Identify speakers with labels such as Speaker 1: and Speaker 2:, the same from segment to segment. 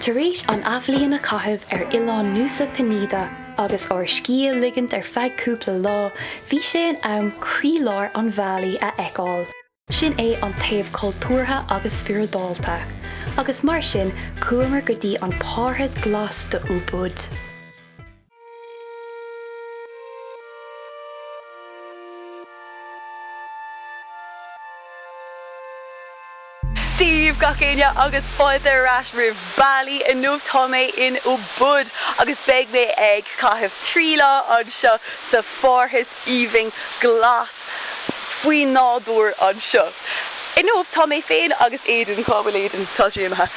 Speaker 1: Tar éis an athbhliain a chaitheamh ar oileán Nusa Penida agus ár scíth a ligint ar feadh cúpla lá, bhí sé in am croílár Bali a fheiceáil, sin é an taobh cultúrtha agus spioradálta, agus mar sin chuamar go dtí an Parthas Glas do Ubud. Dia daoibh, gach éinne agus fáilte ar ais roimh Bali. Inniu tá mé in Ubud agus beidh mé ag caitheamh trí lá anseo sa pharthas aoibhinn glas. faoi nádúr anseo inniu. Tá mé féin agus Aidan, cá bhfuil Aidan? tá sé imithe,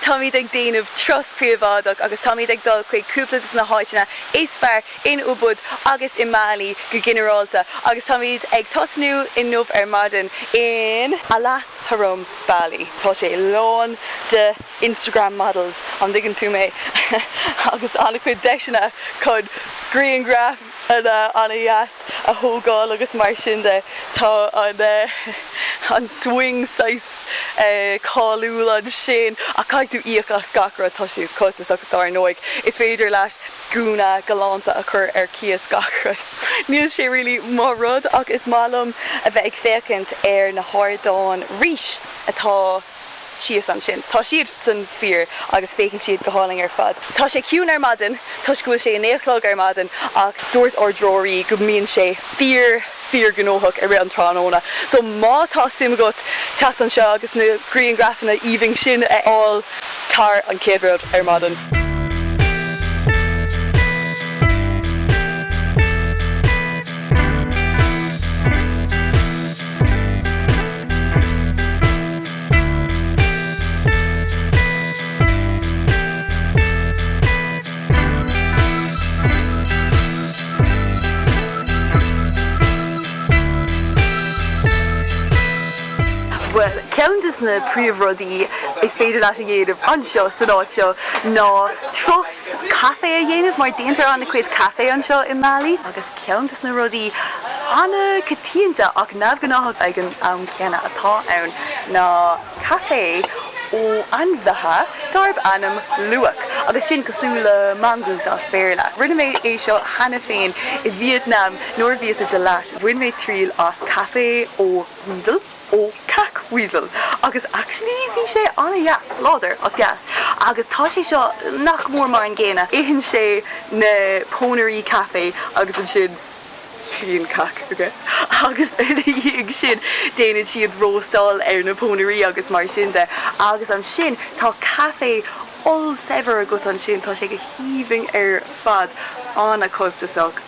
Speaker 1: táimid ag déanamh turas príobháideach agus táimid ag dul chuig cúpla de na háiteanna is fearr in Ubud agus i mBali go ginearálta agus táimid ag tosnú inniu ar maidin in Alas Harum, Bali. Tá sé lán de Instagram models, an dtuigeann tú mé? agus an-chuid deiseanna chun grianghraif. an- an-dheas a thógáil agus mar sin de. Tá an swing saghas cáiliúil ansin ach caithfidh tú íoc as gach rud, tá siad costasach dár ndóigh. Is féidir leat gúna galánta a chur ar cíos gach rud. Níl sé really mo rud ach is maith liom a bheith ag féachaint ar na hardáin rís atá. síos ansin. Tá siad san fíor agus féachann siad go hálainn ar fad. Tá sé ciúin ar maidin toisc go bhfuil sé a naoi a chlog ar maidin ach dúirt ár dtreoraí go mbíonn sé fíor fíorghnóthach i rith an tráthnóna. So má tá suim agat teacht anseo agus na grianghrafanna aoibhinn sin a fháil tar an chéad rud ar maidin. Bhuel, ceann de na príomhrudaí gur féidir leat a dhéanamh anseo san áit seo ná turas caife a dhéanamh, mar déantar an-chuid caife anseo i mBali. Ceann de na rudaí an-choitianta ach neamhghnáthach ag an am céanna atá ann ná caife ó ainmhithe darb ainm luwak, agus sin cosúil le mongoose as Béarla. Rinne mé é seo cheana féin i Vietnam nuair a bhíos i Dalat, bhain mé triail as caife ó weasel. ó cac weasel agus actually bhí sé an-deas, láidir ach deas agus tá sé seo nach mór mar an gcéanna, itheann sé na pónairí caife agus ansin bíonn cac aige agus ina dhiaidh sin déanann siad róstáil ar na pónairí agus mar sin de agus ansin tá caife ollsaibhir agat ansin, tá sé go haoibhinn ar fad, an-chostasach.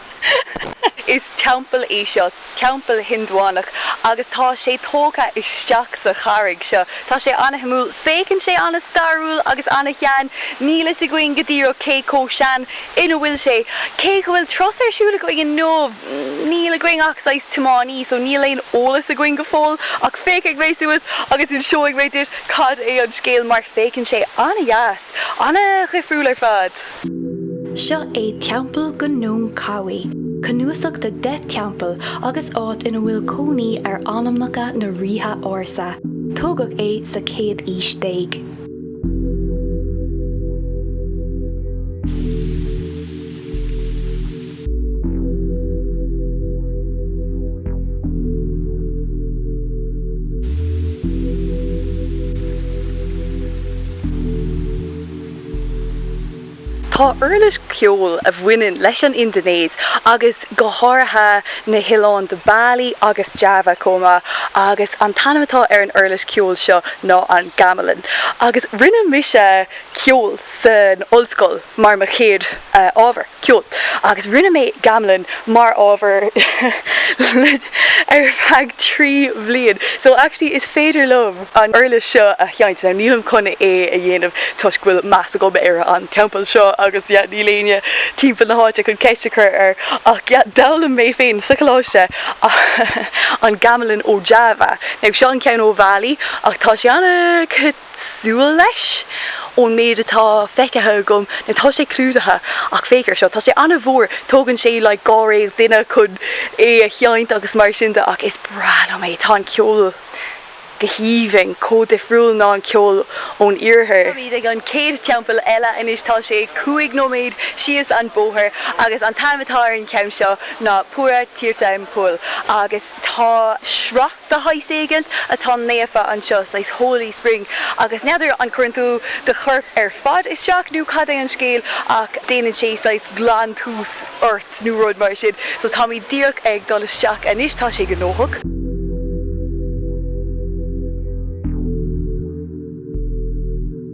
Speaker 1: Is teampall é seo, teampall Hiondúch, agus tá sé tógtha isteach sa charraig seo. Tá sé an-shuimiúil. Féachann sé an-stairiúil agus an-shean. Níl fhios againn go díreach cé chomh sean ina bhfuil sé. Cé go bhfuil turas ar siúl againn inniu, níl againn ach saghas tiománaí, so níl aon eolas againn go fóill. Ach féachfaidh mé suas agus inseoidh mé duit cad é an scéal, mar féachann sé an-deas, an-dhifriúil ar fad. Seo é Teampall Gunung Kawi, cnuasach de 10 teampall agus áit ina bhfuil cónaí ar anamacha na ríthe ársa. Tógadh é sa chéad aois déag. Tá uirlis ceoil a bhaineann leis an Indinéis agus go háirithe na hoileáin de Bali agus Java chomh maith agus an t-ainm atá ar an uirlis ceoil seo ná an Gamelan agus rinne mise ceol san ollscoil mar mo chéad ábhar, ceol. Agus rinne mé Gamelan mar ábhar ar feadh trí bhliain. So actually is féidir liom an uirlis seo a sheinnt. Now nílim chun é a dhéanamh toisc go bhfuil meas agam ar an teampall seo agus yeah níl éinne timpeall na háite chun ceist a chur air ach yeah d'fhoghlaim mé féin sa choláiste an Gamelan ó Java. Now seo an ceann ó Bhali ach tá sé ana súil leis ón méid atá feicthe agam now tá sé clúdaithe ach féach ar seo, tá sé an-mhór, tógann sé like dháréag duine chun é a sheinnt agus mar sin de ach is breá liom é, tá an ceol go haoibhinn, chomh difriúil ná an ceol ón iarthar. Táimid ag an chéad teampall eile anois, tá sé cúig nóiméad síos an bóthar agus an t-ainm atá ar an gceann seo ná Pura Tirta Empul agus tá sruth de shaghas éigin atá naofa anseo, saghas holy spring, agus n'fheadar an gcuireann tú do chorp ar fad isteach nó cad é an scéal ach déanann sé saghas glantús ort nó rud mar sin. So táimid díreach ag dul isteach anois, tá sé gnóthach.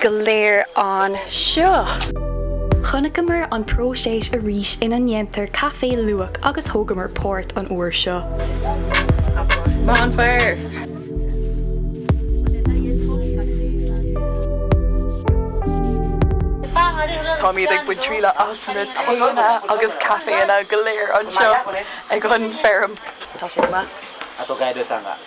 Speaker 1: go léir anseo. Chonaiceamar an próiseas arís ina ndéantar caife luwak agus thógamar páirt an uair seo. Bonfire! Táimid ag baint triail as na taenna agus caiféanna go léir anseo ag an bhfeirm. Tá sé go maith.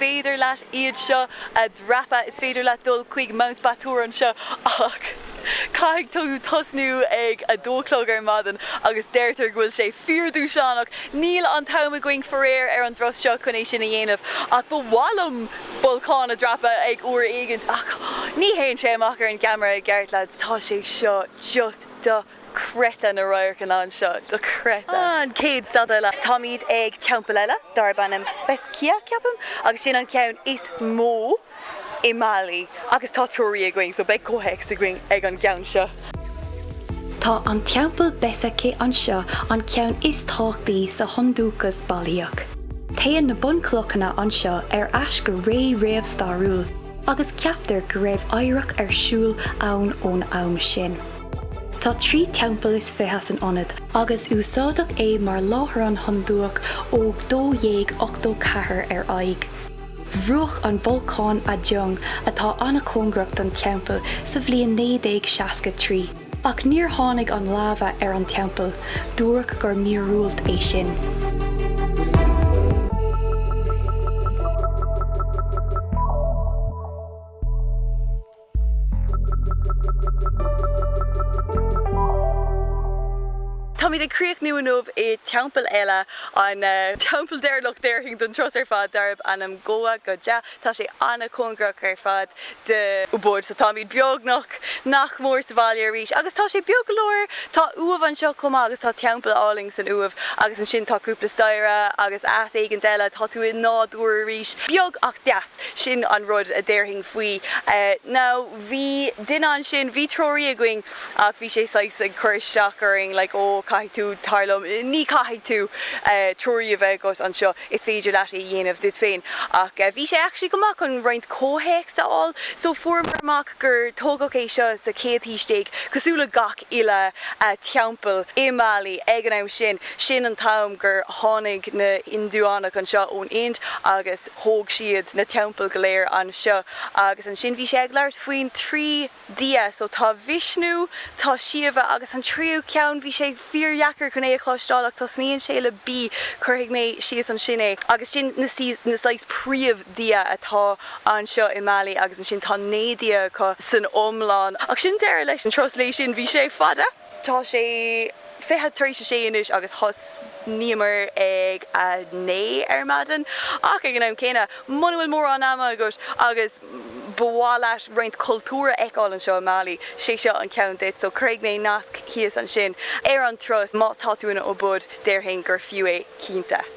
Speaker 1: féidir leat iad seo a dhreapadh. Is féidir leat dul chuig Mount Batur anseo ach caithfidh tú tosnú ag a dó a chlog ar maidin agus deirtear go bhfuil sé fíordhúshlánach. Níl an t-am againn faraor ar an dturas seo chun é sin a dhéanamh ach ba mhaith liom bolcán a dhreapadh ag uair éigint ach ní théann sé amach ar an gceamara i gceart lads, tá sé seo just do. chreidte na radharcanna anseo, dochreidte. An chéad stad eile. Táimid ag teampall eile darb ainm Besakih, ceapaim, agus sin an ceann is mó i mBali agus tá treoraí againn, so beidh comhthéacs againn ag an gceann seo. Tá an Teampall Besakih anseo, an ceann is tábhachtaí sa Hiondúchas Bailíoch. Téann na bunchlocanna anseo ar ais go ré réamhstairiúil agus ceaptar go raibh adhradh ar siúl ann ón am sin. Tá trí theampall is fiche san ionad agus úsáideadh é mar láithreán Hiondúch ó 1284 ar aghaidh. Bhrúcht an bolcán Agung, atá an-chóngarach don teampall, sa bhliain 1963, ach níor tháinig an laibhe ar an teampall, dúradh gur míorúilt é sin. Táimid ag críochnú inniu i teampall eile, an teampall deireanach déarfainn den turas ar fad, darb ainm Goa Gajah. Tá sé an-chóngarach ar fad d'Ubud, so táimid beagnach nach mór sa bhaile arís. Agus tá sé beag go leor, tá uaimh anseo chomh maith agus tá teampall álainn san uaimh agus ansin tá cúpla staighre agus áit éigint eile, tá tú i nádúr arís, beag ach deas. Sin an rud a déarfainn faoi. Nó bhí duine ansin, bhí treoraí againn ach bhí sé saghas ag cur isteach orainn, like ó caithfidh tú, tar liom, ní chaithfidh tú treoraí a bheith agat anseo, is féidir leat é a dhéanamh duit féin. Ach bhí sé actually go maith chun roinnt comhthéacs a fháil. So fuaireamar amach gur tógadh é seo sa chéad haois déag, cosúil le gach uile teampall i mBali ag an am sin. Sin an t-am gur tháinig na hIndiúnaigh anseo ón Ind agus. Thóg siad na teampaill go léir anseo. Agus ansin bhí sé ag labhairt faoin trí Dhia. So tá Vishnu, tá Shiva agus an tríú ceann, bhí sé fíordheacair chun é a chloisteáil ach tosnaíonn sé le B, cuirfidh mé síos ansin é. Agus sin na na saghas príomh Dhia atá anseo i mBali agus ansin tá naoi Dhia acu san iomlán. Ach sin deireadh leis an turas lae sin, bhí sé fada! Tá sé fiche tar éis a sé anois agus thosnaíomar ag a naoi ar maidin. Ach ag an am céanna, muna bhfuil mórán ama agat agus ba mhaith leat roinnt cultúr a fheiceáil anseo i mBali, sé seo an ceann duit. So cuirfidh mé nasc thíos ansin ar an turas má tá tú in Ubud, déarfainn gur fiú é cinnte.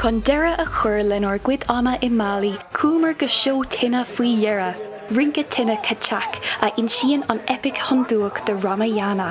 Speaker 1: Chun deireadh a chur lenár gcuid ama i mBali, chuamar go seó tine faoi dheireadh, rince tine Kecak, a insíonn an eipic Hiondúch de Ramayana.